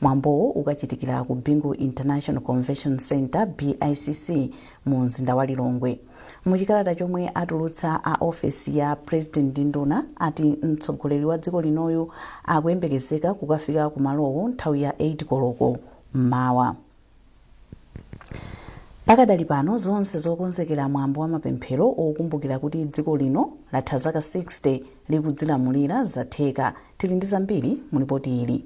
Mwambowu ukachitikira ku Bingu International Convention Centre, BICC, mu mzinda wa Lilongwe. Mu chikalata chomwe atulutsa a ofesi ya President ndi nduna ati mtsogoleri wa dziko linoyu akuyembekezeka kukafika ku malowo nthawi ya 8 koloko m'mawa. Pakadali pano zonse zokonzekera mwambo wa mapemphero okumbukira kuti dziko lino latha zaka 60 likudzilamulira zatheka. Tili ndi zambiri mu lipoti ili.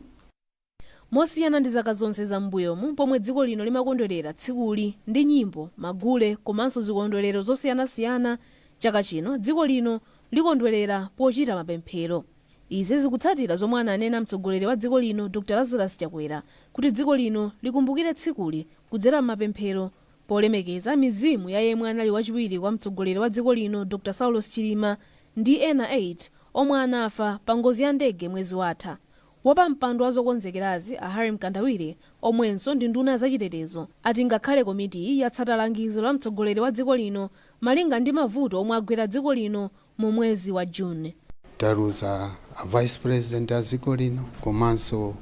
Mosiyana ndi zaka zonse za m'mbuyomu pomwe dziko lino limakondwerera tsikuli ndi nyimbo, magule komanso zikondwerero zosiyanasiyana, chaka chino dziko lino likondwerera pochita mapemphero. Izi zikutsatira zomwe ananena mtsogoleri wa dziko lino Dr Lazarus Chakwera kuti dziko lino likumbukire tsikuli kudzera m'mapemphero polemekeza mizimu ya yemwe anali wachiwiri kwa mtsogoleri wa dziko lino Dr Saulos Chilima ndi ena 8 omwe anafa pa ngozi ya ndege mwezi watha. Wapampando wa zokonzekerazi a Harry Mkandawire omwenso ndi nduna ya zachitetezo ati ngakhale komitiyi yatsata langizo la mtsogoleri wa dziko lino malinga ndi mavuto omwe agwera dziko lino mu mwezi wa June. Taluza a Vice President a dziko lino komanso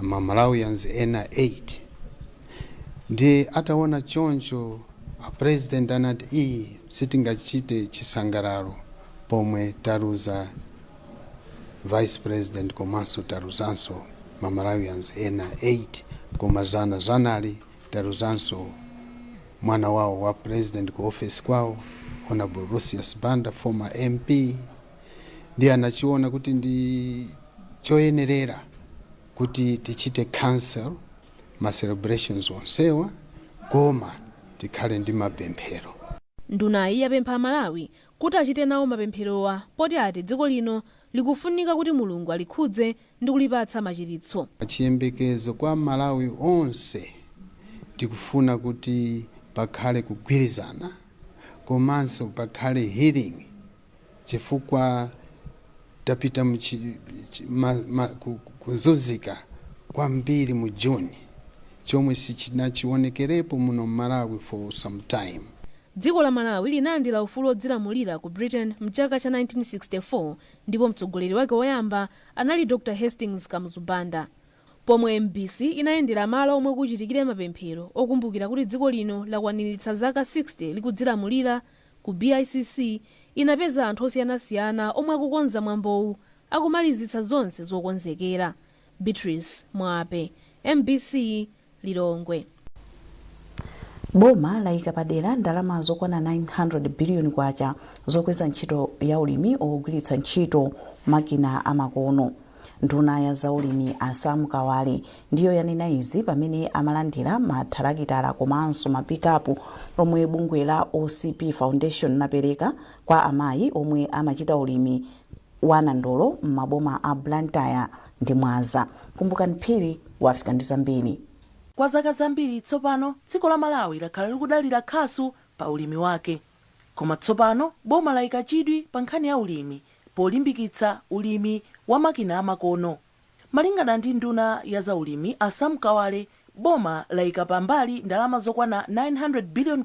ma Malawians ena 8 ndiye ataona choncho a President anati ayi sitingachite chisangalalo pomwe taluza Vice President komanso taluzanso ma Malawians ena 8 koma zana zanali Taluzanso mwana wawo wa president ku ofesi kwawo Hon Lucius Banda former MP ndiye anachiona kuti ndi choyenerera kuti tichite cancel ma celebrations onsewa koma tikhale ndi mapemphero. Ndunayi yapempha aMalawi kuti achite nawo mapempherowa poti ati dziko lino likufunika kuti Mulungu alikhudze ndikulipatsa machiritso a chiyembekezo kwa amalawi onse tikufuna kuti pakhale kugwirizana komanso pakhale healing chifukwa tapita mu chi, chi, ma, ma, ku, kuzuzika kwambiri mu June chomwe sichinawonekerepo muno m'Malawi for some time. Dziko la Malawi linalandira ufulu wodzilamulira ku Britain mchaka cha 1964 ndipo mtsogoleri wake woyamba anali Dr Hastings Kamuzu Banda. Pomwe mbc inayendera malo omwe kuchitikire mapemphero okumbukira kuti dziko lino lakwaniritsa zaka 60 likudzilamulira, ku BICC inapeza anthu osiyanasiyana omwe akukonza mwambowu akumalizitsa zonse zokonzekera. Beatrice Mwape, mbc. Lilongwe. Boma layika padera ndalama zokwana K900 biliyoni zokweza ntchito ya ulimi ogwiritsa ntchito makina amakono. Nduna ya za ulimi a Sam Kawale ndiyo yanena izi pamene amalandira ma thalakitala komanso ma pikapu omwe bungwe la OCP Foundation lapereka kwa amayi omwe amachita ulimi wa nandolo m'maboma a Blantyre ndi Mwanza. Kumbukani Phiri wafika ndi zambiri. Kwa zaka zambiri tsopano, dziko la Malawi lakhala likudalira khasu pa ulimi wake. Koma tsopano boma laika chidwi pa nkhani ya ulimi polimbikitsa ulimi wa makina amakono. Malingana ndi nduna ya za ulimi a Sam Kawale, boma laika pa mbali ndalama zokwana K900 billion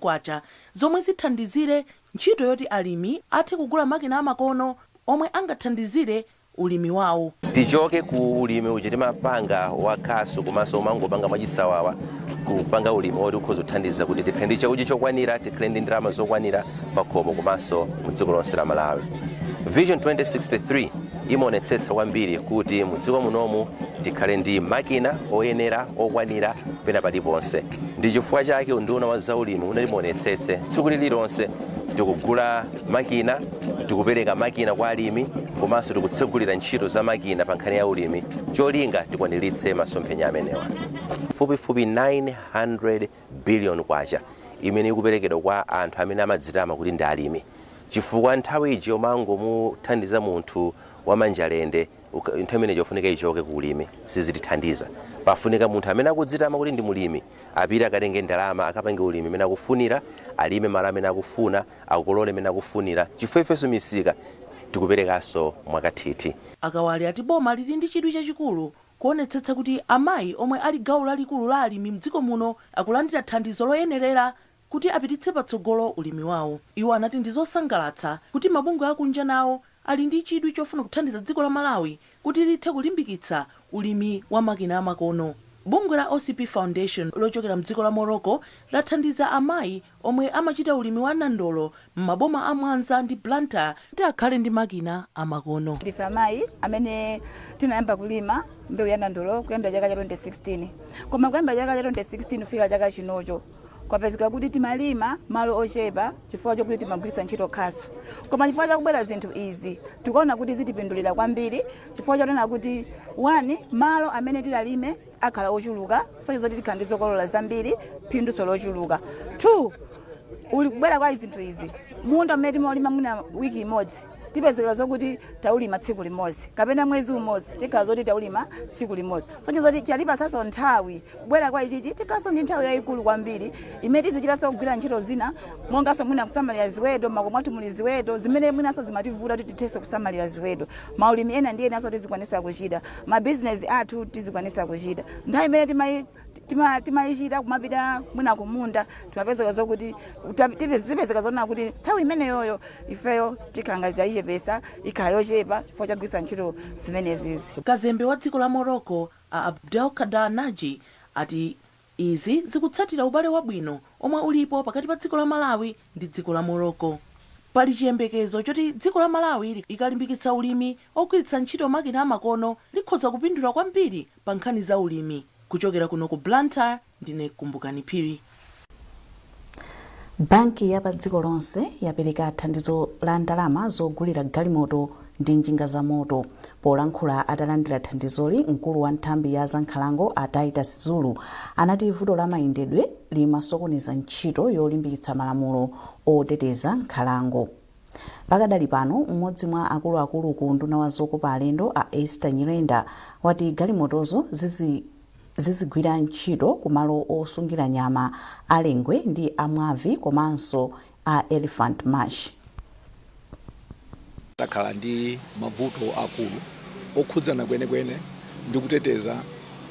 zomwe zithandizire ntchito yoti alimi athe kugula makina amakono omwe angathandizire ulimi wawo. Tichoke ku ulimi uja timapanga wa khasu komanso omangopanga mwachisawawa, kupanga ulimi woti ukhoza kuthandiza kuti tikhale ndi chakudya chokwanira, tikhale ndi ndalama zokwanira pakhomo komanso mu dziko lonse la Malawi. Vision 2063. imaonetsetsa kwambiri kuti mudziko munomu tikhale ndi makina oyenera okwanira pena paliponse ndi chifukwa chake unduna wa zaulimi umaonetsetsa tsiku lililonse tikugula makina tikupereka makina kwa alimi komanso tikutsegulira ntchito za makina pa nkhani ya ulimi cholinga tikwaniritse masomphenya amenewa pafupifupi 900 billion kwacha imene ikuperekedwa kwa anthu amene amadzitama kuti ndi alimi chifukwa nthawi ija yomangomuthandiza munthu wamanja lende uka- nthawi imene ija yofunika ichoke ku ulimi sizitithandiza pafunika munthu amene akudzitama kuti ndi mulimi apite akatenge ndalama akapange ulimi imene akufunira alime malo amene akufuna akolole imene akufunira chifukwa ifenso misika tikuperekanso mwakathithi A Kawale ati boma lili ndi chidwi chachikulu Kuonetsetsa kuti amayi omwe ali gawo lalikulu la alimi mdziko muno akulandira thandizo loyenerera kuti apititse patsogolo ulimi wawo. Iwo anati ndi zosangalatsa kuti mabungwe akunja nawo ali ndi chidwi chofuna kuthandiza dziko la Malawi kuti lithe kulimbikitsa ulimi wa makina amakono. Bungwe la OCP Foundation lochokera mdziko la Morocco lathandiza amayi. omwe amachita ulimi wa nandolo m'maboma a Mwanza ndi Blantyre kuti akhale ndi makina amakono. Ndife amayi amene tinayamba kulima mbewu ya nandolo kuyambira chaka cha 2016 koma kuyambira chaka cha 2016 kufika chaka chinocho kwapezeka kuti timalima malo ochepa chifukwa chokuti timagwiritsa ntchito khasu koma chifukwa chakubwera zinthu izi tikuona kuti zitipindulira kwambiri chifukwa chonena kuti wani malo amene tidzalime akhala ochuluka, kusonyeza kuti tikhala ndi zokolola zambiri, phindu lonso lochuluka. 2, Ndi kubwera kwa zinthu izi, munda umene timaulima mwina wiki imodzi, tipezeka zokuti taulima tsiku limodzi, kapena mwezi umodzi, tikhala zoti taulima tsiku limodzi. Kusonyeza kuti chatipatsanso nthawi, kubwera kwa ichichi, tikhalanso ndi nthawi yayikulu kwambiri, imene tizichitanso kugwira ntchito zina, monganso mwina kusamalira ziweto, m'makomo mwathu muli ziweto, zimene mwinanso zimativuta kuti tithenso kusamalira ziweto. Maulimi ena ndi enanso tizikwanitsa kuchita. ma business athu tizikwanisa kuchita nthawi imene timai tima- timaichita kumapita mwina kumunda timapezeka zokuti ta- tipe- zipezeka zoona kuti nthawi imeneyoyo ifeyo tikhala ngati tayichepesa ikhala yochepa chifukwa chogwiritsa ntchito zimenezizi kazembe wa dziko la morocco a abdelkader naji ati Izi zikutsatira ubale wabwino omwe ulipo pakati pa dziko la Malawi ndi dziko la Morocco. Pali chiyembekezo choti dziko la Malawi likalimbikitsa ulimi ogwiritsa ntchito makina amakono likhoza kupindula kwambiri pa nkhani za ulimi. Kuchokera kuno ku Blantyre, ndine Kumbukani Phiri. Banki ya padziko lonse yapereka thandizo la ndalama zogulira galimoto ndi njinga zamoto. Polankhula atalandira thandizoli, mkulu wa nthambi ya zankhalango a Titus Zulu anati vuto la mayendedwe limasokoneza ntchito yolimbikitsa malamulo oteteza nkhalango. Pakadali pano, m'modzi mwa akuluakulu ku unduna wa zokopa alendo a Esther Nyirenda wati galimotozo zizi. zizigwira ntchito ku malo osungira nyama a Lengwe ndi a Mwabvi komanso a Elephant Marsh. Takhala ndi mavuto aakulu okhudzana kwenikweni ndi kuteteza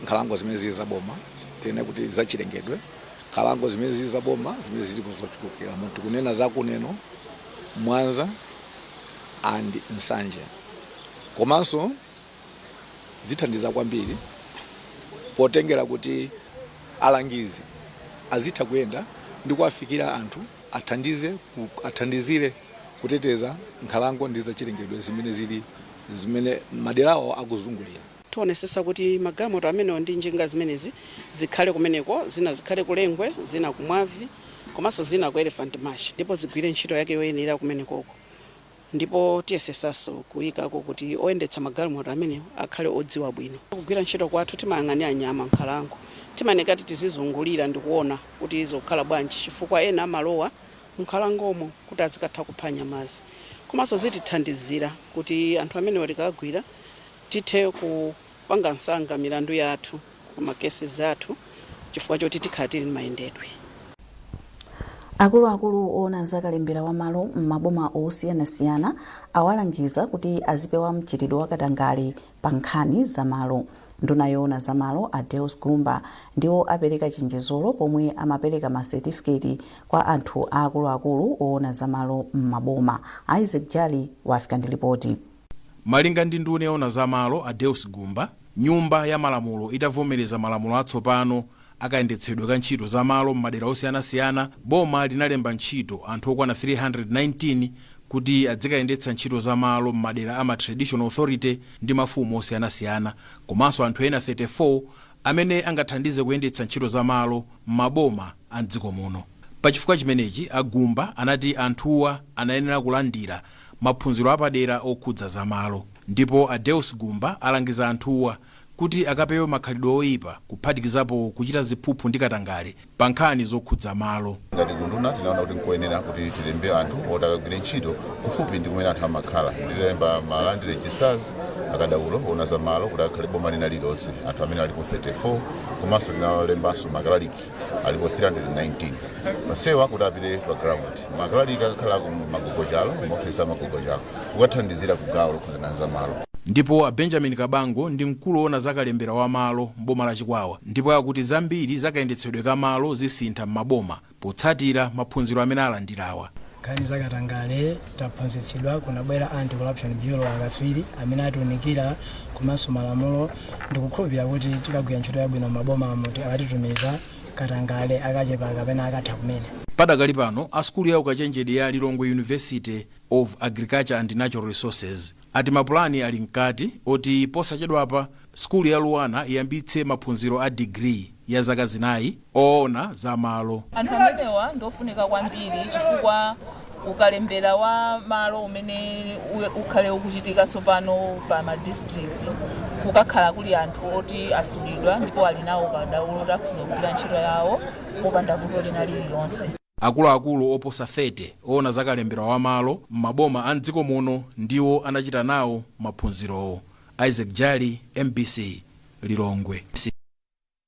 nkhalango zimene zili za boma, tinene kuti zachilengedwe. Nkhalango zimene zili za boma zimene zili ku zochulukira mu tikunena za ku Neno, Mwanza and Nsanje komanso zithandiza kwambiri potengera kuti alangizi azitha kuyenda ndi kuwafikira anthu athandize ku- athandizire kuteteza nkhalango ndi zachilengedwe zimene zili zimene maderawo akuzungulira tionesesa kuti magalimoto amenewo ndi njinga zimenezi zikhale kumeneko zina zikhale ku lengwe zina ku mwabvi komanso zina ku elephant marsh ndipo zigwire ntchito yake yoyenera kumenekoko Ndipo tiyesetsanso kuikako kuti oyendetsa magalimoto amenewo akhale odziwa bwino kugwira ntchito kwathu. Timayang'anira nyama m'nkhalango. Timayeneka kuti tizizungulira ndi kuona kuti zikukhala bwanji chifukwa ena amalowa m'nkhalangomo kuti azikatha kupha nyamazi. Komanso zitithandizira kuti anthu amenewa tikawagwira tithe ku. panga msanga milandu yathu or ma cases athu chifukwa choti tikhala tili ndi mayendedwe. Akuluakulu oona za kalembera wa malo m'maboma osiyanasiyana awalangiza kuti azipewa mchitidwe wa katangale pa nkhani za malo. Nduna yoona za malo a Deus Gumba ndiwo apereka chenjezolo pomwe amapereka ma certificate kwa anthu a akuluakulu oona za malo m'maboma. Isaac Jali wafika ndi lipoti. Malinga ndi nduna yoona za malo a Deus Gumba, Nyumba ya Malamulo itavomereza malamulo atsopano a kayendetsedwe ka ntchito za malo m'madera osiyanasiyana, boma linalemba ntchito anthu okwana 319 kuti adzikayendetsa ntchito za malo m'madera a ma Traditional Authority ndi mafumu osiyanasiyana komanso anthu ena 34 amene angathandize kuyendetsa ntchito za malo m'maboma a m'dziko muno. Pa chifukwa chimenechi, a Gumba anati anthuwa anayenera kulandira maphunziro apadera okhudza za malo. Ndipo a Deus Gumba alangiza anthuwa kuti akapewe makhalidwe oyipa kuphatikizapo kuchita ziphuphu ndi katangale pa nkhani zokhudza malo. Ngati kunduna tinaona kuti nkoyenera kuti tilembe anthu oti akagwire ntchito kufupi ndi kumene anthu amakhala. Ndiye tinalemba ma land registrars, akadaulo oona za malo kuti akhale boma lina lililonse, anthu amene alipo 34 komanso tinalembanso makalaliki. alipo 319 masiku ano kuti apite pa ground makalalikiwa akakhala kwa magogochalo maofesi a magogochalo kukathandizira ku gawo lokhuzana za malo ndipo a benjamin kabango ndi mkulu woona za kalembera wa malo m'boma la chikwawa ndipo akuti zambiri za kayendetsedwe ka malo zisintha m'maboma potsatira maphunziro amene alandirawa nkhani za katangale taphunzitsidwa kunabwera anti corruption bureau akatswiri amene atiunikira komanso malamulo ndikukhulupirira kuti tikagwira ntchito yabwino m'maboma amene akatitumiza katangale akachepa kapena akatha kumene Padakali pano, a sukulu ya ukachenjede ya Lilongwe University of Agriculture and Natural Resources ati mapulani ali mkati oti posachedwapa sukulu ya LUANAR iyambitse maphunziro a digiri ya zaka zinayi oona za malo. Anthu amenewa ndi ofunika kwambiri chifukwa ukalembera wa malo umene u- ukhale ukuchitika tsopano pa ma district kukakhala kuli anthu oti asulidwa ndipo ali nawo ukadaulo woti akathe kugwira ntchito yawo popanda vuto lina lililonse. Akuluakulu oposa 30 oona za kalembera wa malo m'maboma a m'dziko muno ndiwo anachita nawo maphunzirowo. Isaac Jali, MBC, Lilongwe.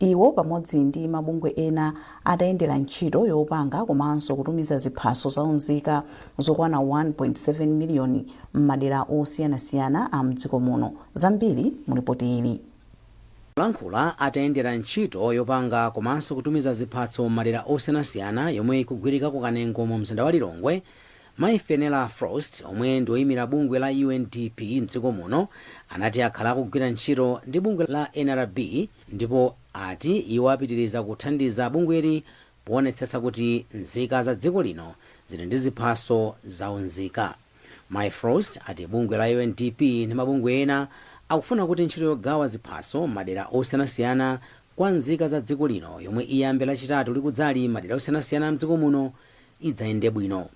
Iwo pamodzi ndi mabungwe ena atayendera ntchito yopanga komanso kutumiza ziphaso za unzika zokwana 1.7 miliyoni m'madera osiyanasiyana a m'dziko muno. Zambiri mulipoti ili. Polankhula atayendera ntchito yopanga komanso kutumiza ziphaso m'madera osiyanasiyana yomwe ikugwirika ku Kanengo mu mzinda wa Lilongwe, Mayi Fenella Frost, omwe ndi oyimira bungwe la UNDP m'dziko muno, anati akhala akugwira ntchito ndi bungwe la nrb ndipo ati iwo apitiriza kuthandiza bungweli poonetsetsa kuti nzika za dziko lino zili ndi ziphaso za unzika. Mayi Frost ati bungwe la UNDP ndi mabungwe ena akufuna kuti ntchito yogawa ziphaso m'madera osiyanasiyana kwa nzika za dziko lino yomwe iyambe lachitatu likudzali m'madera osiyanasiyana a m'dziko muno, idzayende bwino.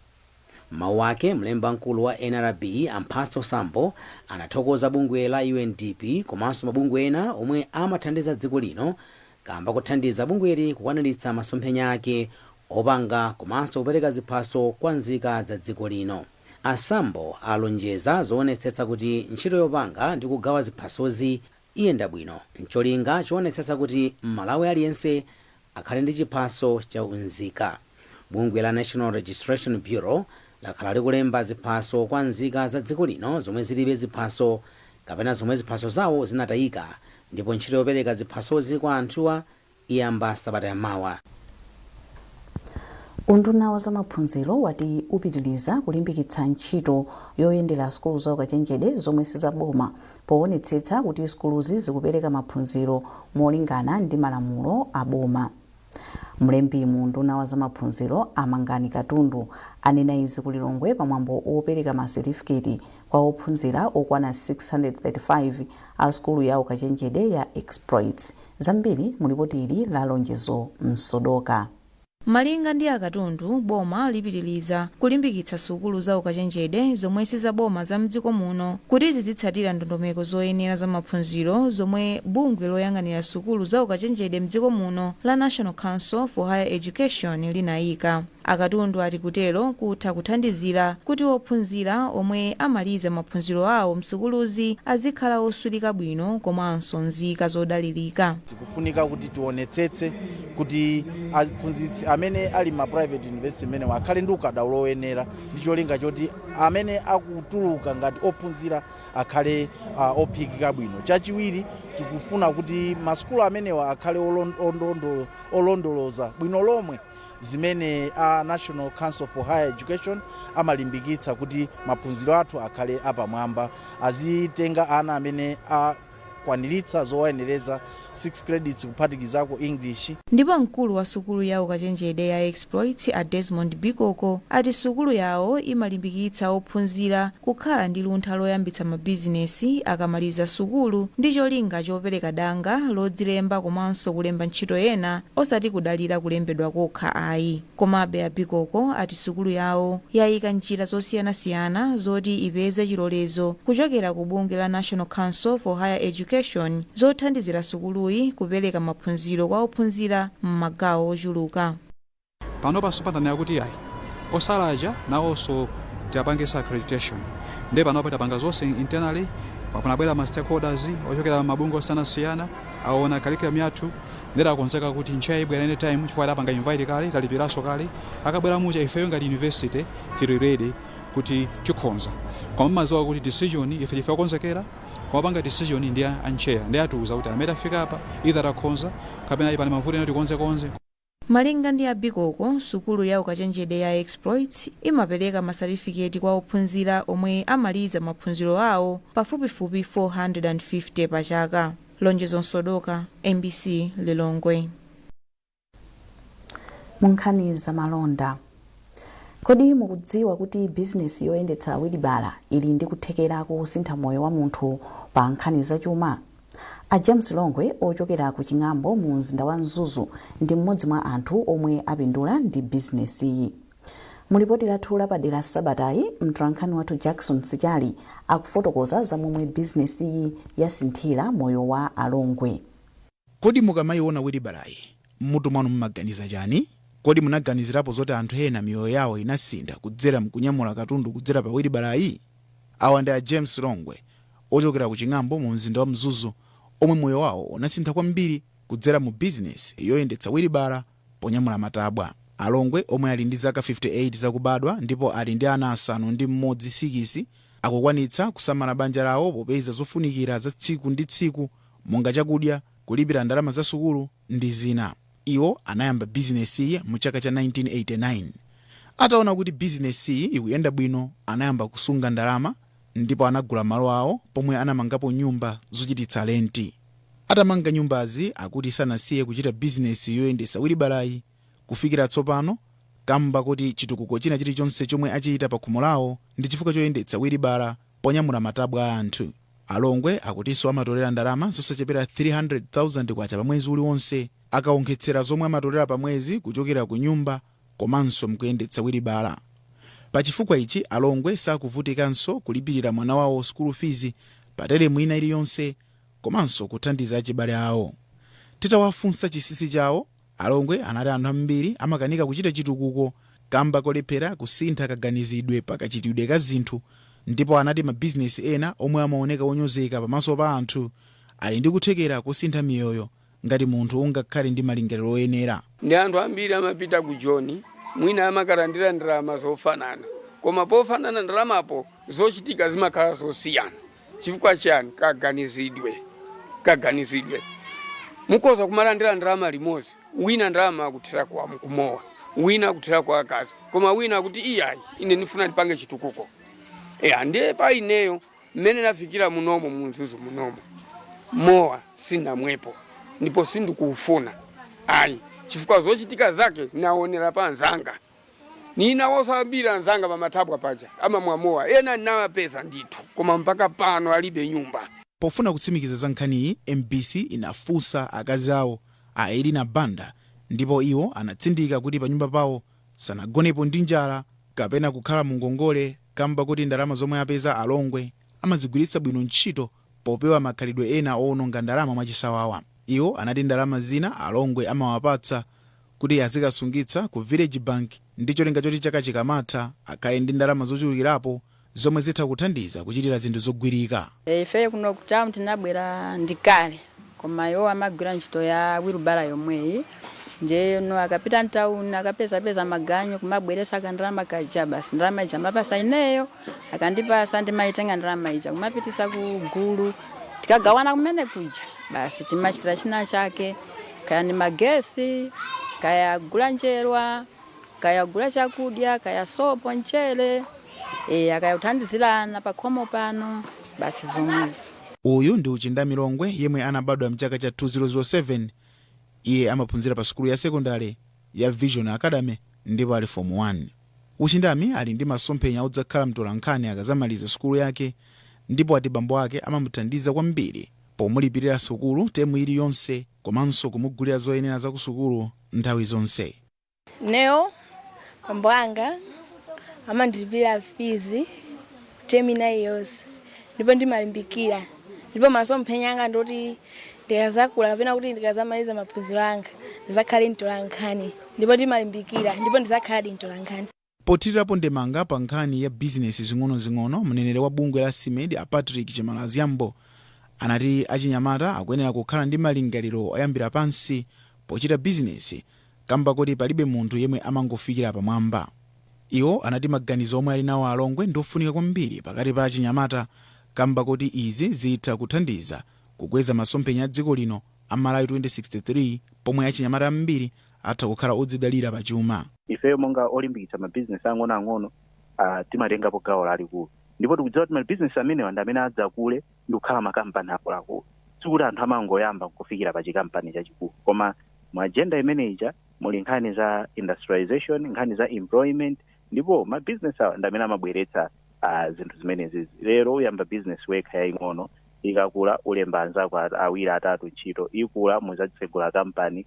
M'mawu ake, mlembi wamkulu wa nrb a Mphatso Sambo anathokoza bungwe la UNDP komanso mabungwe ena omwe amathandiza dziko lino kamba kothandiza bungweli kukwaniritsa masomphenya ake opanga komanso kupereka ziphaso kwa nzika za dziko lino. A Sambo alonjeza zoonetsetsa kuti ntchito yopanga ndi kugawa ziphasozi iyenda bwino n'cholinga choonetsetsa kuti Mmalawi aliyense akhale ndi chiphaso cha unzika. Bungwe la National Registration Bureau lakhala likulemba ziphaso kwa nzika za dziko lino zomwe zilibe ziphaso kapena zomwe ziphaso zawo zinatayika ndipo ntchito yopereka ziphasozi kwa anthuwa iyamba sabata ya mawa. Unduna wa zamaphunziro wati upitiliza kulimbikitsa ntchito yoyendera sukulu za ukachenjede zomwe sizaboma powonetsetsa kuti sukuluzi zikupereka maphunziro molingana ndi malamulo a boma. Mlembi mu unduna wa zamaphunziro a Mangani Katundu anena izi ku Lilongwe pamwambo wopereka ma setifiketi kwa ophunzira okwana 635 a sukulu ya ukachenjede ya Exploits. Zambiri mu lipoti ili la Lonjezo Msodoka. Malinga ndi a Katundu, boma lipitiliza kulimbikitsa sukulu za ukachenjede zomwe sizaboma za m'dziko muno kuti zidzitsatira ndondomeko zoyenera za maphunziro zomwe bungwe loyang'anira sukulu za ukachenjede m'dziko muno la National Council for Higher Education linaika. A Katundu ati kutero kutha kuthandizira kuti ophunzira omwe amaliza maphunziro awo m'sukuluzi azikhala osulika bwino komanso nzika zodalilika. Zikufunika kuti tionetsetse kuti aphunzitsi amene ali m'ma private university mmenewa akhale ndi ukadaulo oyenera ndi cholinga choti amene akutuluka ngati ophunzira akhale ophikika bwino. Chachiwiri tikufuna kuti masukulu amenewa akhale olondoloza bwino lomwe. zimene a National Council for Higher Education amalimbikitsa kuti maphunziro athu akhale apamwamba, azitenga ana amene akwaniritsa zowayenereza 6 credits kuphatikizako English. Ndipo mkulu wa sukulu ya ukachenjede ya Exploits a Desmond Bikoko ati sukulu yawo imalimbikitsa ophunzira kukhala ndi luntha loyambitsa mabizinesi akamaliza sukulu ndi cholinga chopereka danga lodzilemba komanso kulemba ntchito ena Osati kudalira kulembedwa kokha ayi, komabe a Bikoko ati sukulu yawo yaika njira zosiyanasiyana zoti ipeze chilolezo kuchokera ku bungwe la National Council for Higher Education zothandizira sukuluyi kupereka maphunziro kwa ophunzira m'magawo ochuluka. Panopa so tanena kuti iyayi osala aja nawonso tiwapangitse accreditation nde panopa tapanga zonse internally, panabwera ma stakeholders ochokera m'mabungwe osiyanasiyana, aona curriculum yathu, Nde takonzeka kuti NCHE ibwera any time chifukwa tapanga invite kale, talipiranso kale, akabwera muja ifeyo ngati university tili ready kuti tikhoza koma mmadziwa kuti decision ife ndife okonzekera koma opanga decision ndi a NCHE nde atiuza kuti mmene tafika apa either takhoza kapena ayi pali mavuto ena tikonzekonze. Malinga ndi a Bikoko, sukulu ya ukachenjede ya Exploits imapereka ma satifiketi kwa ophunzira omwe amaliza maphunziro awo pafupifupi 450 pa chaka. Lonjezo Msodoka, mbc Lilongwe. Munkhani zamalonda, kodi mukudziwa kuti bizinesi yoyendetsa wilibala ili ndi kuthekera kosintha moyo wa munthu pa nkhani zachuma? A James Longwe ochokera ku Ching'ambo mu mzinda wa Mzuzu ndi mmodzi mwa anthu omwe apindula ndi bizinesiyi. Mu lipoti lathu lapadera sabatayi, mtolankhani wathu Jackson Sichali akufotokoza za momwe bizinesiyi yasinthira moyo wa a Longwe. Kodi mukamaiona wilibalayi, m'mutu mwanu mumaganiza chani? Kodi munaganizirapo zoti anthu ena miyoyo yawo inasintha kudzera mkunyamula katundu kudzera pa wilibalayi? Awa ndi a James Longwe ochokera ku Ching'ambo mu mzinda wa Mzuzu omwe moyo wawo unasintha kwambiri kudzera mu bizinesi yoyendetsa wilibala. ponyamula matabwa. A Longwe omwe ali ndi zaka 58 zakubadwa ndipo ali ndi ana asanu ndi mmodzi sikisi akukwanitsa kusamala banja lawo popeza zofunikira za tsiku ndi tsiku monga chakudya, kulipira ndalama za sukulu ndi zina. Iwo anayamba bizinesiyi mu chaka cha 1989. Ataona kuti bizinesiyi ikuyenda bwino anayamba kusunga ndalama ndipo anagula malo awo pomwe anamangapo nyumba zochititsa lenti. atamanga nyumbazi akuti sanasiye kuchita bizinesi yoyendetsa wilibalayi kufikira tsopano kamba koti chitukuko china chilichonse chomwe achita pakhomo lawo ndi chifukwa choyendetsa wilibala ponyamula matabwa a anthu. A Longwe akutinso amatolera ndalama zosachepera K300,000 pamwezi uliwonse akawonkhetsera zomwe amatolera pamwezi kuchokera kunyumba komanso mkuyendetsa wilibala. Pa chifukwa ichi a Longwe sakuvutikanso kulipilira mwana wawo sukulu fizi pa telemu ina iliyonse komanso kuthandiza achibale awo. Titawafunsa chinsinsi chawo, a Longwe anati anthu ambiri amakanika kuchita chitukuko kamba kolephera kusintha kaganizidwe pa kachitidwe ka zinthu ndipo anati mabizinesi ena omwe amaoneka onyozeka pamaso pa anthu ali ndi kuthekera kosintha miyoyo ngati munthu ungakhale ndi malingaliro oyenera. Ndi anthu ambiri amapita ku Joni, mwina amakalandira ndalama zofanana. Koma pofanana ndalamapo, zochitika zimakhala zosiyana. Chifukwa chiyani? Kaganizidwe. Kaganizidwe. Mukhoza kumalandira ndalama limodzi, wina ndalama akuthera kumowa, wina akuthera kwa akazi, koma wina akuti iyayi, ine ndifuna ndipange chitukuko. Eya, ndiye pa ineyo Mmene nafikira munomo mu Mzuzu munomo mowa sindinamwepo ndipo sindikuufuna ayi chifukwa zochitika zake naonera pa anzanga. Ndinawonso ambiri anzanga pamathabwa paja amamwa mowa ena nnawapeza ndithu koma mpaka pano alibe nyumba. Pofuna kutsimikiza za nkhaniyi, mbc inafunsa akazi awo a Elina Banda ndipo iwo anatsindika kuti panyumba pawo sanagonepo ndi njala kapena kukhala mu ngongole. kamba koti ndalama zomwe apeza a Longwe amazigwiritsa bwino ntchito popewa makhalidwe ena owononga ndalama mwachisawawa. Iwo anati ndalama zina a Longwe amawapatsa kuti azikasungitsa ku Village Bank ndi cholinga choti chaka chikamatha akhale ndi ndalama zochulukirapo zomwe zitha kuthandiza kuchitira zinthu zogwirika. Ifeyo kuno ku town tinabwera ndi kale. Koma iwo amagwira ntchito ya wilubara yomweyi ndiyeno akapita mtauni akapezapeza maganyu kumabweretsa kandalama kaja basi ndalama ija amapasa ineyo akandipasa ndimaitenga ndalama ija kumapitisa ku gulu tikagawana kumene kuja basi timachitira china chake kaya ndi magesi kaya kugula njerwa Kaya kugula chakudya, kaya sopo, mchere, eya kaya kuthandizira ana pakhomo pano, basi zomwezo. Uyu ndi Uchindami Longwe yemwe anabadwa mchaka cha 2007. Iye amaphunzira pa sukulu ya sekondale ya Vision Academy ndipo ali Fomu 1. Uchindami ali ndi masomphenya odzakhala mtolankhani akazamaliza sukulu yake ndipo wati bambo ake amamuthandiza kwambiri pomulipirira sukulu temu ili yonse komanso kumugulira zoyenera zakusukulu nthawi zonse. Ineyo bambo anga amandilipirira fizi temu ina iliyonse ndipo ndimalimbikira ndipo masomphenya anga ndoti ndikazakula kapena kuti ndikazamaliza maphunziro anga ndizakhale mtolankhani ndipo ndimalimbikira ndipo ndizakhaladi mtolankhani. Pothirirapo ndemanga pa nkhani ya bizinesi zing'onozing'ono, mneneri wa bungwe la SMEDI a Patrick Chimalaziyambo anati achinyamata akuyenera kukhala ndi malingaliro oyambira pansi pochita bizinesi kamba koti palibe munthu yemwe amangofikira pamwamba. Iwo anati maganizo omwe ali nawo a Longwe ndiofunika kwambiri pakati pa achinyamata kamba koti izi zitha kuthandiza kukweza masomphenya a dziko lino a Malawi 2063 pomwe achinyamata ambiri atha kukhala odzidalira pa chuma. Ifeyo monga olimbikitsa ma bizinesi ang'ono ang'ono timatengapo gawo lalikulu ndipo tikudziwa kuti ma bizinesi amenewa ndi amene adzakule ndikukhala ma kampani akuluakulu. Sikuti anthu amangoyamba nkufikira pa chikampani chachikulu koma mu agenda imene ija muli nkhani za industrialisation, nkhani za employment ndipo ma bizinesi awa ndi amene amabweretsa zinthu zimenezizi. Lero uyamba bizinesi wekha yaing'ono, ikakula ulemba anzako awiri atatu ntchito, ikula muzatsegula kampani.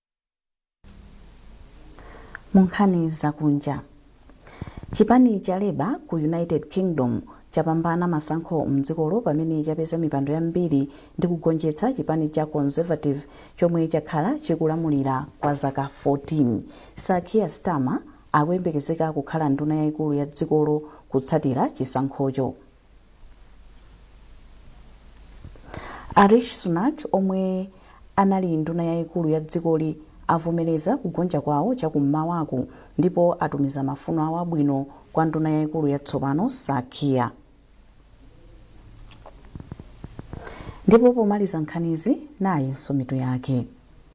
Mu nkhani zakunja, chipani cha Labour ku United Kingdom chapambana masankho m'dzikolo pamene chapeza mipando yambiri ndi kugonjetsa chipani cha Conservative chomwe chakhala chikulamulira kwa zaka 14. Sir Keir Starmer akuyembekezeka kukhala nduna yaikulu ya dzikolo kutsatira chisankhocho. A Rishi Sunak omwe anali nduna yayikulu ya dzikoli avomereza kugonja kwawo chakum'mawaku ndipo atumiza mafuno awo abwino kwa nduna yayikulu yatsopano Sir Keir. Ndipo pomaliza nkhanizi nayinso mitu yake.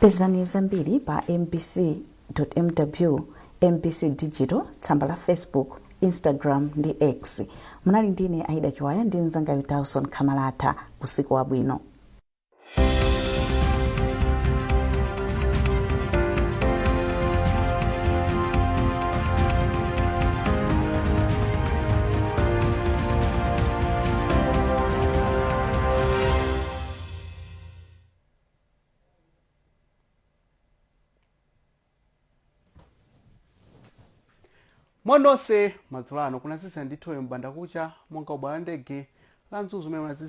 pezani zambiri pa mbc mw mbc digital tsamba la facebook instagram ndi x munali ndine aida chiwaya ndi mzangayu dawson khamalata usiku wabwino mwanonse, madzulo ano kunazizira ndithu m'bandakucha monga kubwalo la ndege la mzuzu umene kunazizira